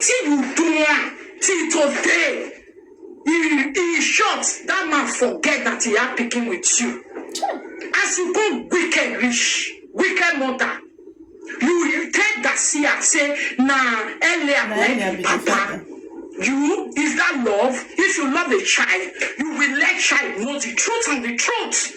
Wetin you do am till today? E e short, that man forget that he had pikin with you. As you go wicked reach, wicked mother, you you take Garcia say na earlier Na na earlier be be the papa. papa. You is that love? If you love a child, you will let child know the truth and the truth.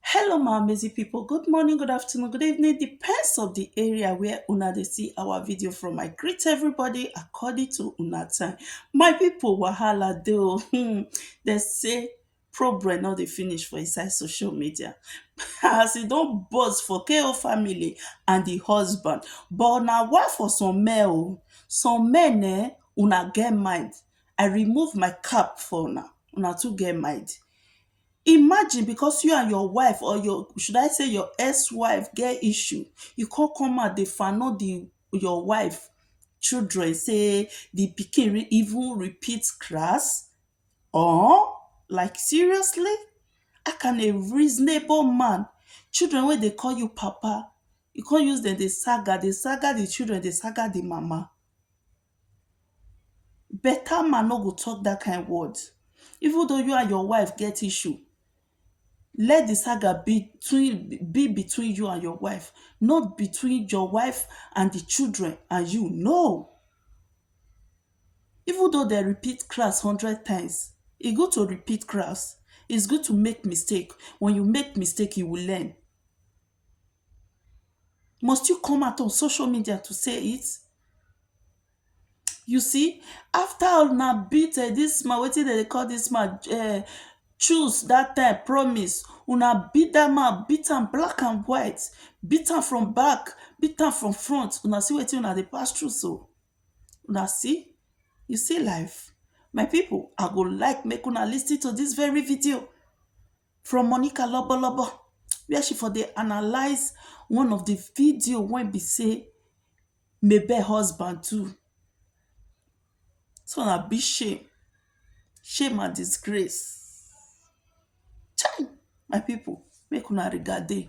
Hello my amazing people, good morning, good afternoon, good evening, depends of the area where una dey see our video from. I greet everybody according to una time. My people wahala dey o, hmm, dem say problem no dey finish for inside social media. As e don burst for KO family and the husband, but na why for some men o, some men eh, una get mind, I remove my cap for una, una too get mind. Imagine because you and your wife or your should I say your ex wife get issue you come come out dey di your wife children say di pikin even repeat class or like seriously how can a reasonable man children wey dey call you papa you come use dem dey saga dey saga di children dey saga di mama Beta man no go talk dat kind word even though you and your wife get issue let di saga be be between you and your wife not between your wife and di children and you no even though dem repeat class hundred times e good to repeat class is good to make mistake when you make mistake you will learn must you come out on social media to say it you see after una beat um dis man wetin dem dey call dis man um choose dat time promise una beat dat man beat am black and white beat am from back beat am from front una see wetin una dey pass through so una see you see life my people i go like make una lis ten to dis very video from Monica lobolobo wia she for dey analyse one of di video wey be say mabel husband do dis one na big shame shame and disgrace chai my people make una regard dey.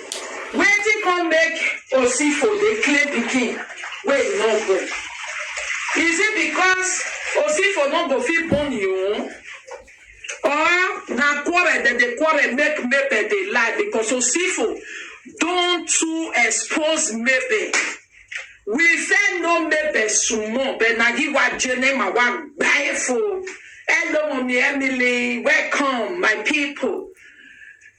Wetin come make Osifo dey claim pikin wey he no born? Is it because Osifo no go fit born he own or na quarrel dem dey quarrel make Mabel dey lie because Osifo don too expose Mabel. We first know Mabel small but na he wa jene ma wa gba efo. Hello mummy Emily, welcome my people.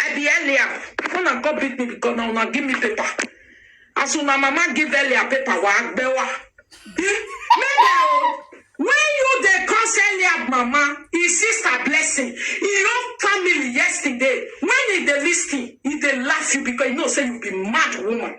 I be Eliab. Una come beat me because now una give me paper. As una mama give Eliab paper, wa agbewa. Maybe oh, when you dey cause Eliab mama, his sister blessing, his own family yesterday, when he dey listen, he dey laugh you because he know say you be mad woman.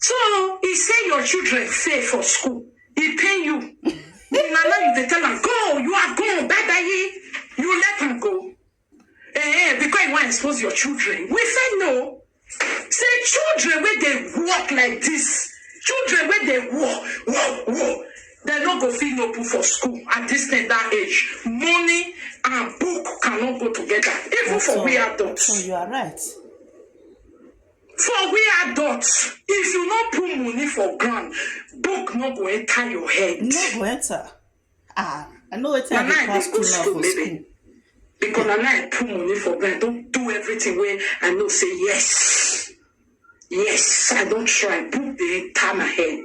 So he say your children fail for school. He pain you. na now you dey tell am go you are gone bye bye you let am go. Eh, because you wan expose your children. We fit know say children wey dey work like this children wey dey work work work dem no go fit no put for school at this tender age money and book cannot go together even for we adults. So you are right. For we adults, if you no put money for ground, book no go enter your head. no go enter ah i know wetin i Na dey now I pass dey go through now school, for baby. school Because na now I put money for ground, don't do everything where I know say yes. Yes, I don't try. Book dey enter my head.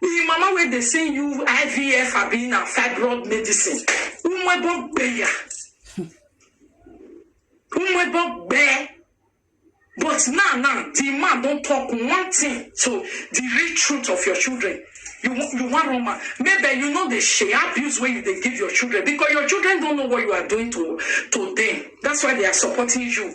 Him mama wey dey send you IVF abi na fibroid medicine. Umwebo gbeya. Umwebo gbe. But now, now, the man don talk one thing to the real truth of your children. You, wa- you want Roma. Maybe you know the share abuse where you they give your children because your children don't know what you are doing to, to them. That's why they are supporting you.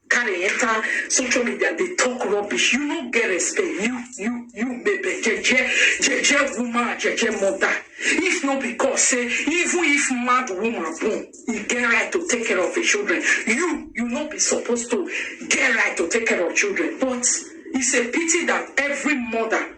carry enter social media dey talk rubbish you no get respect you you you bebe jeje jeje woman and jeje mother if no be god say even if mad woman born e get right to take care of im children you you no be suppose to get right to take care of children but it's a pity that every mother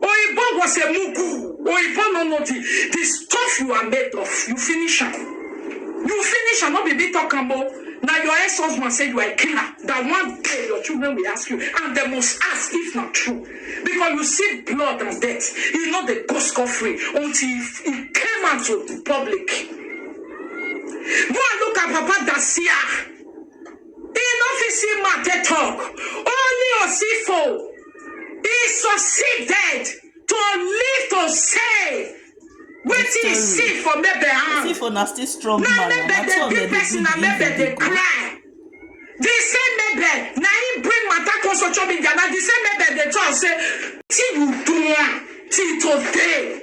Oyibo go say mugu. Oyibo no know the the stuff you are made of. You finish am. You finish am. No be me talk am o. Na your ex-husband say you are a killer. That one day your children will ask you and they must ask if na true. Because you see blood and death. You no dey go scot free until you you came out to the public. Go and look at Papa Dacia. He no fit see mouth take talk. Only Osifo. He succeeded to live to say wetin he see for maybe see hand. for na still strong Na man na maybe na the so big dem dey person na do maybe the dey cry. The same maybe na him bring matter come social media na the same maybe dey talk say till you do am till today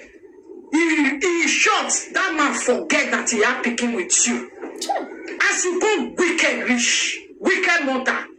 he he short that man forget that he had pikin with you. As you go wicked reach wicked mother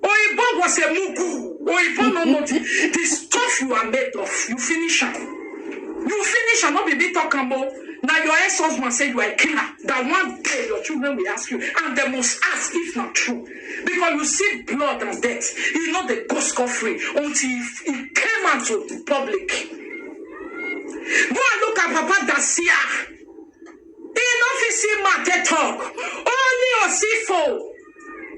Oyibo go say mugu. Oyibo no know the, the stuff you are made of. You finish am. You finish am. No be me talk am o. Na your ex-husband say you are a killer. That one day your children will ask you, and they must ask if na true, because you see blood and death. You know they go scot free until he, he came out to the public. Go and look at Papa Dacia. He no fit see Mate talk. Only Osifo.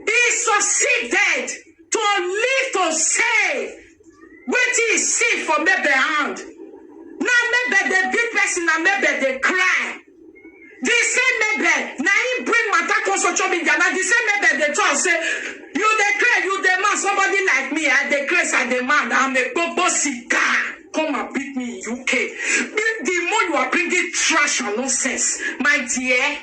He succeeded to live to say wetin he see for maybe hand. Na maybe dey beat person, na maybe dey cry. The same maybe na him bring matter come social media. Na the same maybe dey talk say you dey cry, you dey mad. Somebody like me, I dey craze, I dey mad. I'm a gbogbo sika. Come and beat me in UK. The the more you are bringing trash and nonsense, my dear.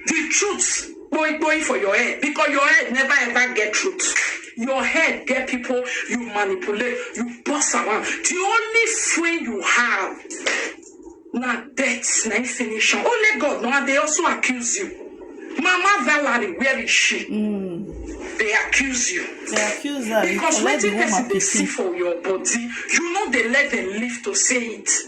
the truth boy boy for your head because your head never ever get truth your head get people you manipulate you boss around the only friend you have na death na finish am only god no and they also accuse you mama valerie where is she mm. they accuse you they accuse her because wetin person dey see for your body you know they let them live to say it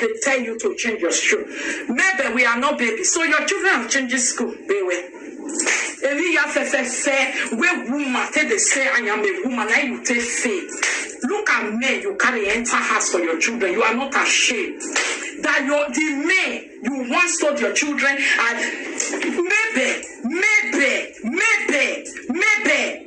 They tell you to change your school. Maybe we are not baby, so your children are changing school. They were. Eri ya fẹfẹfẹ wey woman take dey say I am a woman na you take faith. Look at men you carry enter house for your children you are not ashamed that your the men you once told your children and maybe maybe maybe maybe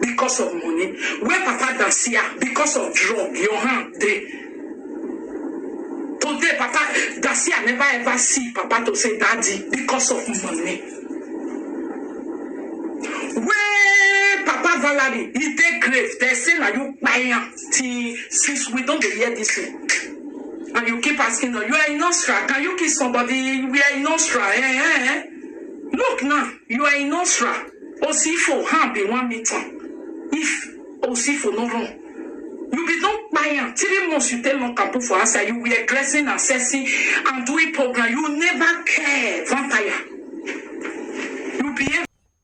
because of money wey papa da see am because of drug your hand dey today papa da see am never ever see papa to say daddy because of money wey papa valerie e dey grave dey say na you kpai am till since we don dey hear this thing and you keep asking her you are a nursery can you kiss somebody you are a nursery eh eh eh. Look now, you are in Osra. Osifo ha be one meter. If Osifo no run, you be don buy am three months you take lock am put for outside you were dressing assessing and doing program you never care vampire you behave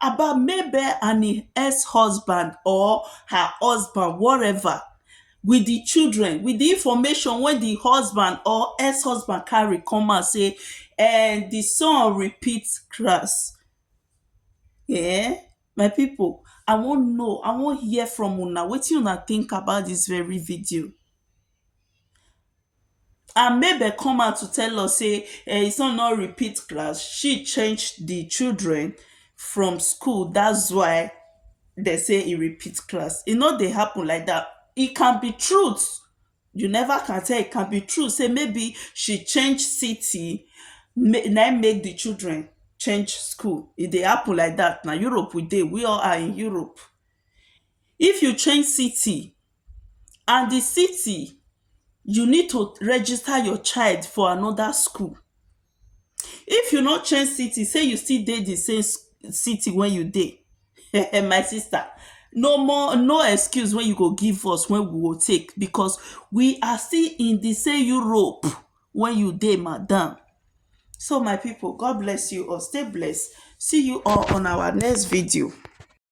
about Mabel and im ex husband or her husband whatever with di children with di information wey di husband or ex husband carry come out say um di son repeat class um my pipu I wan know I wan hear from una wetin una think about dis very video. and make dem come out to tell us sey um his son no repeat class, she change the children from school that's why they say he repeat class. E no dey happen like dat. It can be truth, you never can tell, it can be truth sey maybe she change city na im make the children change school. E dey happen like dat na. Europe we dey. We all are in Europe. If you change city and di city you need to register your child for anoda school If you no change city sey you still dey di same city wey you dey um my sister no more no excuse wey you go give us wey we go take becos we are still in di same Europe wey you dey madam So my pipo God bless you all stay blessed see you all on our next video.